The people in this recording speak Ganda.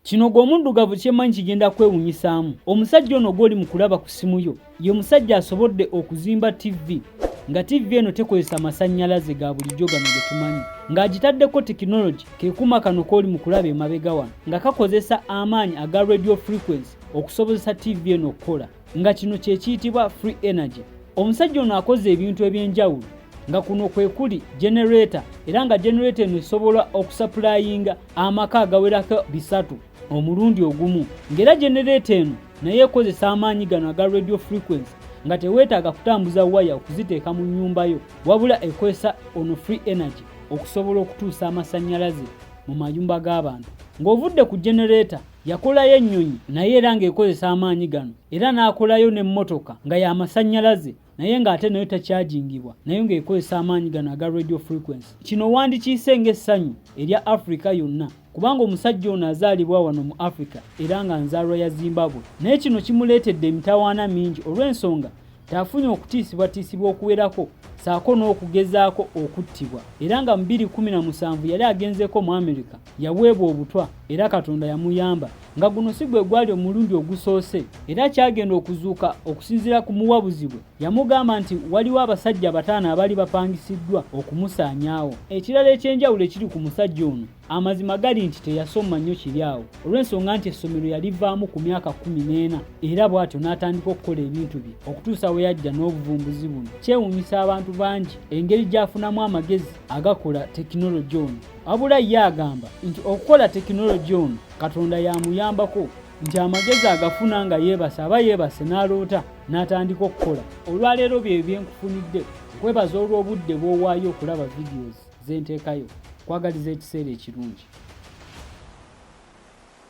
Kino gwe omuddugavu kyemmanyi kigenda kwewunyisaamu. Omusajja ono gw'oli mu kulaba ku ssimu yo ye musajja asobodde okuzimba ttivi nga ttivi eno tekozesa masannyalaze ga bulijjo gano ge tumanyi ng'agitaddeko tekinologi ke kuma kano k'oli mu kulaba emabega wano nga kakozesa amaanyi aga radio frequency okusobozesa ttivi eno okukola. nga kino kye kiyitibwa free energy omusajja ono akoze ebintu eby'enjawulo nga kuno kwe kuli genereeta era nga genereeta eno esobola okusapulayinga amaka agawerako bisatu omulundi ogumu ng'era genereeta eno naye ekozesa amaanyi gano aga radio frequency nga teweetaaga kutambuza waya okuziteeka mu nnyumba yo wabula ekozesa ono free energy okusobola okutuusa amasannyalaze mu mayumba g'abantu ng'ovudde ku genereeta Yakolayo ennyonyi naye era ng'ekozesa amaanyi gano era n'akolayo n'emmotoka nga ya masannyalaze naye ng'ate nayo takyajingibwa nayo ng'ekozesa amaanyi gano aga radio frequency. Kino wandikiyise ng'essanyu erya Afrika yonna kubanga omusajja ono azaalibwa wano mu Afrika era nga nzaalwa ya Zimbabwe naye kino kimuleetedde emitawaana mingi olw'ensonga nti afunye okutiisibwatiisibwa okuwerako ssaako n'okugezaako okuttibwa era nga mu bbiri kkumi na musanvu yali agenzeeko mu Amerika yaweebwa obutwa era katonda yamuyamba nga guno si gwe gwali omulundi ogusoose era kyagenda okuzuuka okusinziira ku muwabuzi bwe yamugamba nti waliwo abasajja bataano abaali bapangisiddwa okumusaanyaawo ekirala ekyenjawulo ekiri ku musajja ono amazima gali nti teyasoma nnyo kiri awo olw'ensonga nti essomero yalivaamu ku myaka kumi n'ena era bw'atyo n'atandika okukola ebintu bye okutuusa we yajja n'obuvumbuzi buno kyewuunyisa abantu bangi engeri gy'afunamu amagezi agakola tekinologi ono Abula ye agamba nti okukola tekinologi ono Katonda yamuyambako nti amagezi agafuna nga yeebase aba yeebase n'aloota n'atandika okukola olwaleero bye byenkufunidde kwebaza olw'obudde bw'owaayo okulaba videos z'enteekayo kwagaliza ekiseera ekirungi